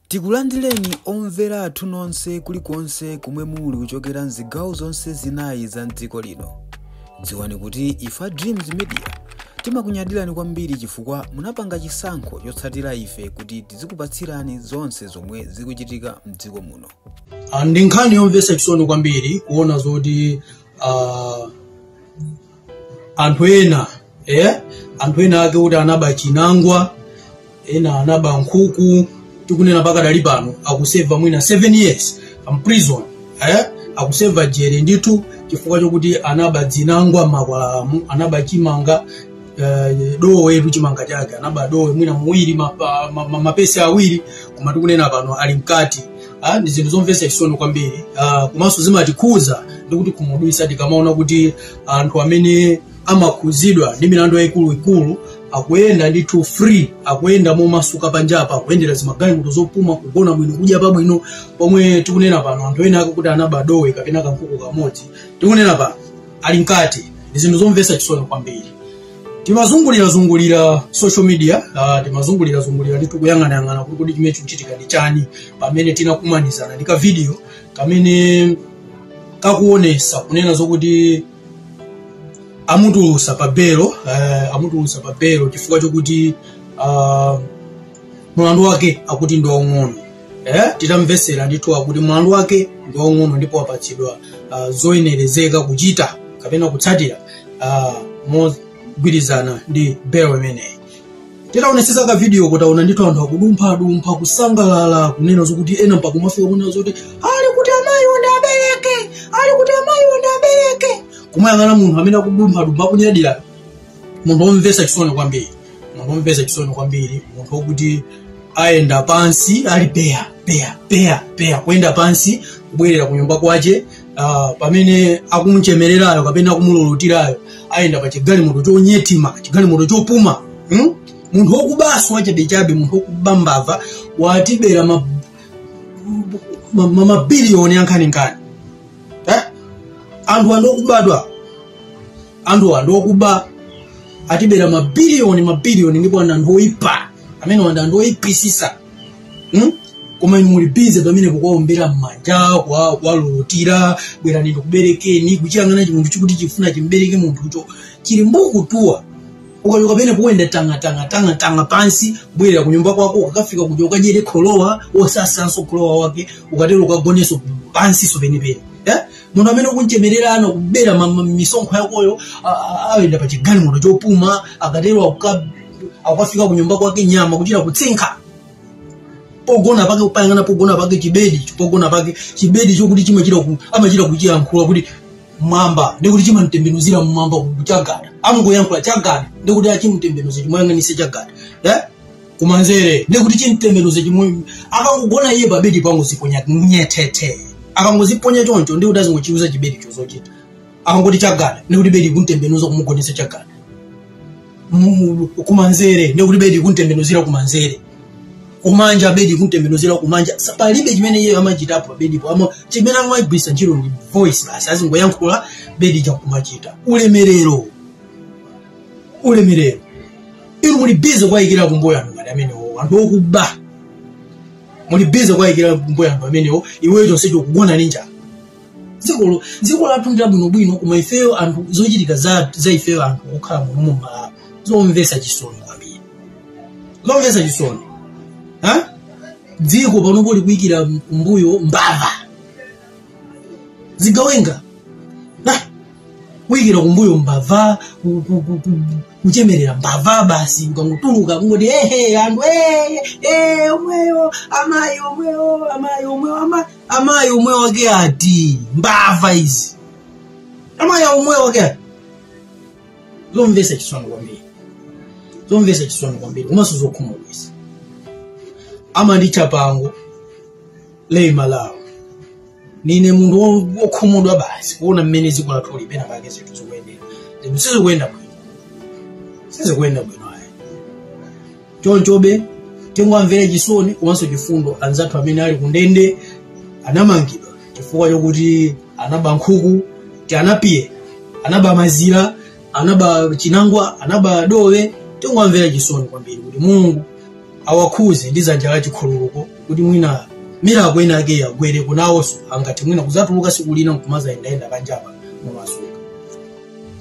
Tikulandireni omvera athu nonse kulikonse komwe muli kuchokera mzigawo zonse zinayi za mdziko lino. Dziwani kuti ife a Dreams Media timakunyadirani kwambiri chifukwa munapanga chisankho chotsatira ife kuti tizikupatsirani zonse zomwe zikuchitika mdziko muno. Ah, ndi nkhani yomvetsa chisoni kwambiri kuona zoti ah, anthu ena eh? anthu ena ake kuti anaba chinangwa ena anaba nkhuku tikunena pakadali pano akuseva mwina 7 years m'prison eh? akuseva jere ndithu chifukwa chokuti anaba dzinangwa m'makwalalamu anaba chimanga eh, dowetu chimanga chake anaba dowe mwina muwiri mapa- ma- ma- mapesi awiri koma tikunena pano ali mkati Ah, ndi zinthu zomvetsa chisoni kwambiri ah, komanso zimatikhuza ndi kutikhumudwitsa tikamaona kuti anthu amene amakhuzidwa ndi milandu yayikuluikulu akuyenda ndithu free akuyenda momasuka panjapa akuyendera zimagalimoto zopuma kugona bwino kudya pabwino pomwe tikunena pano anthu ena ake kuti anaba dowe kapena kankhuku kamodzi tikunena pano ali mkati ndi zinthu zomvetsa chisoni kwambiri timazungulirazungulira social media uh, timazungulirazungulira ndithu kuyang'anayang'ana kuti kodi chimene chikuchitika ndi chani pamene tinakumanizana ndi kavidiyo kamene kakuonesa kunena zokuti amutulusa pa belo uh, amutulusa pa belo chifukwa chokuti uh, mulandu wake akuti ndi waung'ono eh, titamvetsera ndithu akuti mlandu wake ndi waung'ono ndipo wapatsidwa uh, zoyenerezeka kuchita kapena kutsatira uh, mogwirizana ndi belo imeneyi titaonetsetsa ka video titaona ndithu anthu akudumphadumpha kusangalala kunena zokuti ena mpaka kumafika kunena zoti ali kuti amayiwo ndiwabereke ali kuti amayiwo ndiwabereke kumayang'ana munthu amene akudumphadumpha akunyadira munthu womvetsa chisoni kwambiri munthu womvetsa chisoni kwambiri munthu wokuti ayenda pansi ali peya peya peya peya kuyenda pansi kubwerera ku nyumba kwace ah, pamene akumuchemererayo kapena akumululutirayo ayenda pa chigalimoto chonyetima chigalimoto chopuma hmm? munthu wokubaso wachabechabe munthu wokuba mbava watibera ma- ma- ma- mabiliyoni ankhaninkhani eh? anthu ndi okubatu awa anthuwa ndi okuba atibera mabiliyoni mabiliyoni ndipo ana anthu oyipa amenewa ndi anthu oyipisisa hmm? koma inu muli bize pamenepo kuwaombera m'manja kwa- kuwalulutira bwerani ndikuberekeni kuchiyang'ana chimunthu chikuti chifuna chimbereke munthucho chili mbukutuwa ukachoka pene kuyenda tanga tanga tanga tanga pansi kubwerera ku nyumba kwako ukakafika kuja ukadyere kholowa wosasanso kholowa wake ukatero ukagoneso pansiso penepene eh? munthu amene ukunchemerera anakubera ma- ma- misonkho yakoyo a- a- ayenda pa chigalimoto chopuma akatero akuka- akukafika ku nyumba kwake nyama kuchita kutsinkha pogona pake kupayang'ana pogona pake chibedi pogona pake chibedi chokuti chimachita ku- amachita kuchiyankhula kuti mwamba ndikuti chimamtembenuzira mmwamba ku- chagada amungoyankhula chagada ndikuti achimtembenuza chimuyang'anise chagada eh? kumanzere ndekuti chimtembenuze chimwe akangogona iye pabedi kungoziponya nyetete akangoziponya choncho ndekuti azingochiuza chibedi chozochita akangoti chagada ndekuti bedi kuntembenuza kumugonesa chagada Mu- kumanzere ndekuti bedi kuntembenuzira kumanzere kumanja bedi kuntembenuzira kumanja Sa- palibe chimene iye amachitapo pabedipo ama chimene amagwisa ntchito ndi voice basi azingoyankhula bedi nkumachita ulemerero ulemerero inu muli bize kuwayikira kumbuyo anthu ngati amenewo anthu okuba muli bize kuwayikira kumbuyo anthu amenewo iweyo chonsecho kugona ndi njala dziko dziko lathu ndi labwinobwino koma ifeyo anthu zochitika za, za ifeyo anthu okhala muno mu malawi zomvetsa chisoni kwambiri zomvetsa chisoni ha dziko panopo likuyikira kumbuyo mbava zigawenga nah, kuyikira kumbuyo mbava ku- ku- ku- ku- kuchemerera mbava basi ukangotuluka kungoti ehe anthu eh, eh, omweyo amayi omweyo amayi omweyo ama- amayi omweyo wake ati mbava izi amayi omweyo wake ati zomvesa chisoni kwambiri zomvesa chisoni kwambiri komanso zokhumudwisa amanditcha Pango lei Malawi ndine munthu wo- wokhumudwa basi kuona mmene dziko lathu lipena pake zinthu zikuyendera ndipo sizikuyenda bwino sizikuyenda bwino ayi chonchobe tingowamvera chisoni komanso chifundo anzathu amene ali kundende anamangidwa chifukwa chokuti anaba nkhuku ti anapiye anaba mazira anaba chinangwa anaba dowe tingowamvera chisoni kwambiri kuti mulungu awakhuze ndi zanja la chikhululuko kuti mwina miracle inayake iwagwereko nawonso angathe mwina kuzatuluka siku lina nkumazayendayenda panjapa momasuka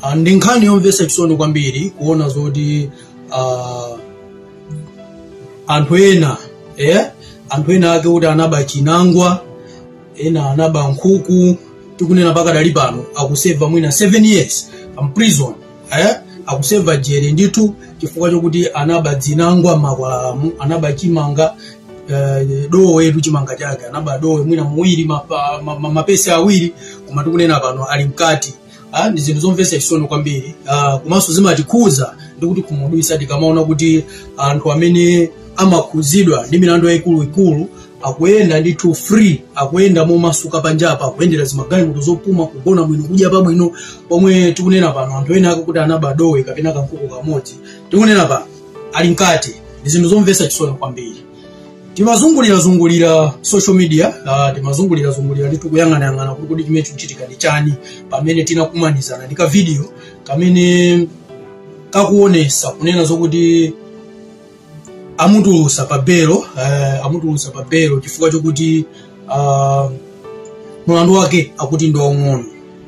Ah, ndi nkhani yomvetsa chisoni kwambiri kuona zoti ah, anthu ena eh? anthu ena ake kuti anaba chinangwa ena anaba nkhuku tikunena pakadali pano akuseva mwina 7 years imprison eh? akuseva jere ndithu chifukwa chokuti anaba zinangwa mmakwalalamu anaba chimanga eh, dowetu chimanga chake anaba dowe mwina muwiri mapa- ma- ma- mapesi awiri koma tikunena pano ali mkati Ah, ndi zinthu zomvetsa chisoni kwambiri Ah, komanso zimatikhuza ndi kutikhumudwisa tikamaona kuti anthu amene amakhuzidwa ndi milandu yayikuluikulu akuyenda ndithu free akuyenda momasuka panjapa akuyendera zimagalimoto zopuma kugona bwino kudya pabwino pomwe tikunena pano anthu ena ake kuti anaba dowe kapena kankhuku kamodzi tikunena pano ali mkati ndi zinthu zomvetsa chisoni kwambiri timazungulirazungulira social media uh, timazungulirazungulira ndithu kuyang'anayang'ana kuti kodi chimene chikuchitika ndi chani pamene tinakumanizana ndi kavidiyo kamene kakuonesa kunena zokuti amutulusa pa belo uh, amutulusa pa belo chifukwa chokuti uh, mulandu wake akuti ndi waung'ono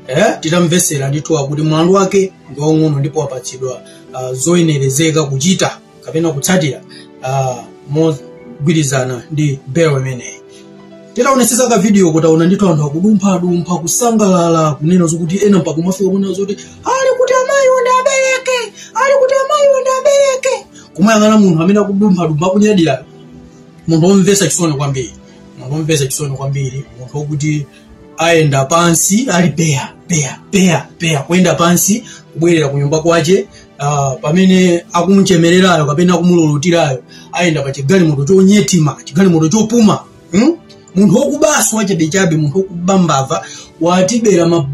eh? titamvesera ndithu akuti mulandu wake ndi waung'ono ndipo wapatsidwa uh, zoyenerezeka kuchita kapena kutsatira uh, mogwirizana ndi belo imeneyi titaonetsetsa ka videoko taona ndithu anthu akudumphadumpha kusangalala kunena zokuti ena mpaka kumafika kunena zoti ali kuti amayi wonde abereke ali kuti amayi wonde abereke kumayang'ana munthu amene akudumphadumpha akunyadira munthu womvetsa chisoni kwambiri munthu womvetsa chisoni kwambiri munthu wokuti ayenda pansi ali peya peya peya peya kuyenda pansi kubwerera ku nyumba kwache ah, pamene akumuchemererayo kapena akumululutirayo ayenda pa chigalimoto chonyetima chigalimoto chopuma hmm? munthu wokubaso wachabechabe munthu wokuba mbava watibera ma-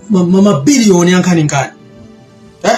ma- ma- mabiliyoni ankhaninkhani eh?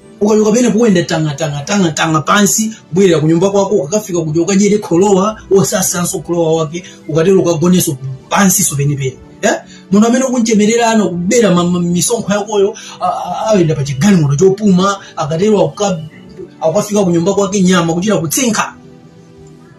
ukachoka pamenepo uyenda tangatangatangatanga pansi bwerera ku nyumba kwako ukakafika kuja ukadyere kholowa osasanso kholowa wake ukatero ukagonenso pansiso penipeni eh? munthu amene ukunchemerera anakubera ma- ma- misonkho yakoyo a- a- ayenda pa chigalimoto chopuma akatero akuka- akukafika ku nyumba kwake nyama kuchita kutsinkha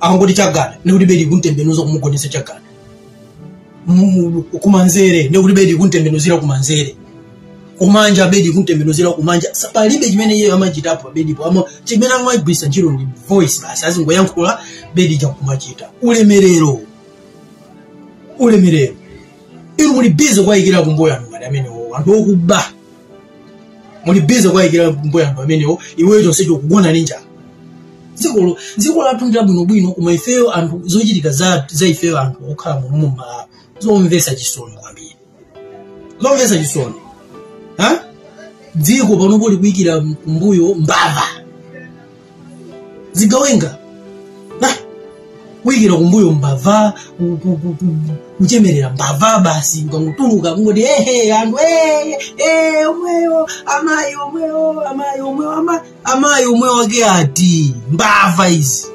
akangoti chagada ndikuti bedi kuntembenuza kumugonesa chagada Mu- kumanzere ndikuti bedi kuntembenuzira kumanzere kumanja bedi kuntembenuzira kumanja Sa- palibe chimene iye amachita pa bedipo ama chimene amagwisa ntchito ndi voice basi azingoyankhula bedi chakumachita ulemerero ulemerero inu muli bize kuwayikira kumbuyo anthu ngati amenewo anthu okuba muli bize kuwayikira kumbuyo anthu amenewo iweyo chonsecho kugona ndi njala dzikolo dziko lathu ndi labwinobwino koma ifeyo anthu zochitika za, za ifeyo anthu okhala muno mu malawi zomvesa chisoni kwambiri zomvesa chisoni ha dziko panopo likuyikira kumbuyo mbava zigawenga Ah, kuyikira kumbuyo mbava ku- ku- ku- ku- kuchemerera mbava basi ukangotuluka kungoti ehe anthu eh, eh, omweyo amayi omweyo amayi omweyo ama- amayi omweyo wake ati mbava izi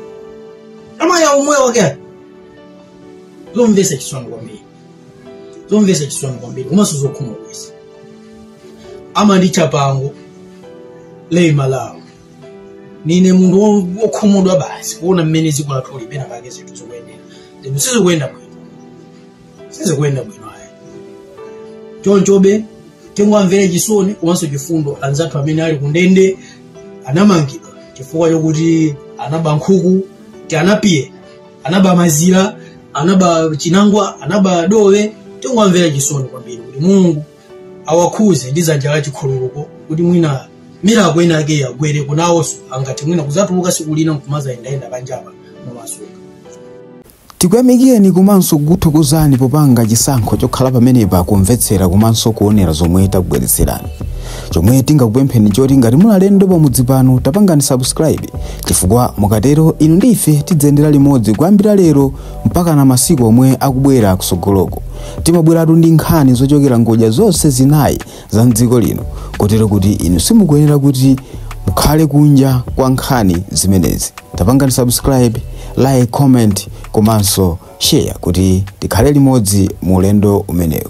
amayi omweyo wake ati zomvesa chisoni kwambiri zomvesa chisoni kwambiri komanso zokhumudwitsa amanditcha pangolin malawi nine munthu wo- wokhumudwa basi kuona mmene dziko lathu lipena pake zinthu zikuyendera ndipo sizikuyenda bwino sizikuyenda bwino ayi chonchobe tingowamvera chisoni komanso chifundo anzathu amene ali kundende anamangidwa chifukwa chokuti anaba nkhuku ti anapiye anaba mazira anaba chinangwa anaba dowe tingowamvera chisoni kwambiri kuti mulungu awakhuze ndi dzanja la chikhululuko kuti mwina miracle ina yake iwagwereko nawonso angati mwina kuzatuluka siku lina nkumazayendayenda panjapa momasuka tikuyamikireni komanso kukuthokozani popanga chisankho chokhala pamenepa kumvetsera komanso kuonera zomwe takubweretserani chomwe tingakupempheni choti ngati muli alendo pamudzi pano tapangani subscribe chifukwa mukatero inu ndi ife tidziyendera limodzi kuyambira lero mpaka na masiku omwe akubwera kusogoloko timabweratu ndi nkhani zochokera ngodya zonse zinayi za mdziko lino kotero kuti inu simukuyenera kuti mukhale kunja kwa nkhani zimenezi tapangani subscribe like comment komanso share kuti tikhale limodzi mu ulendo umenewu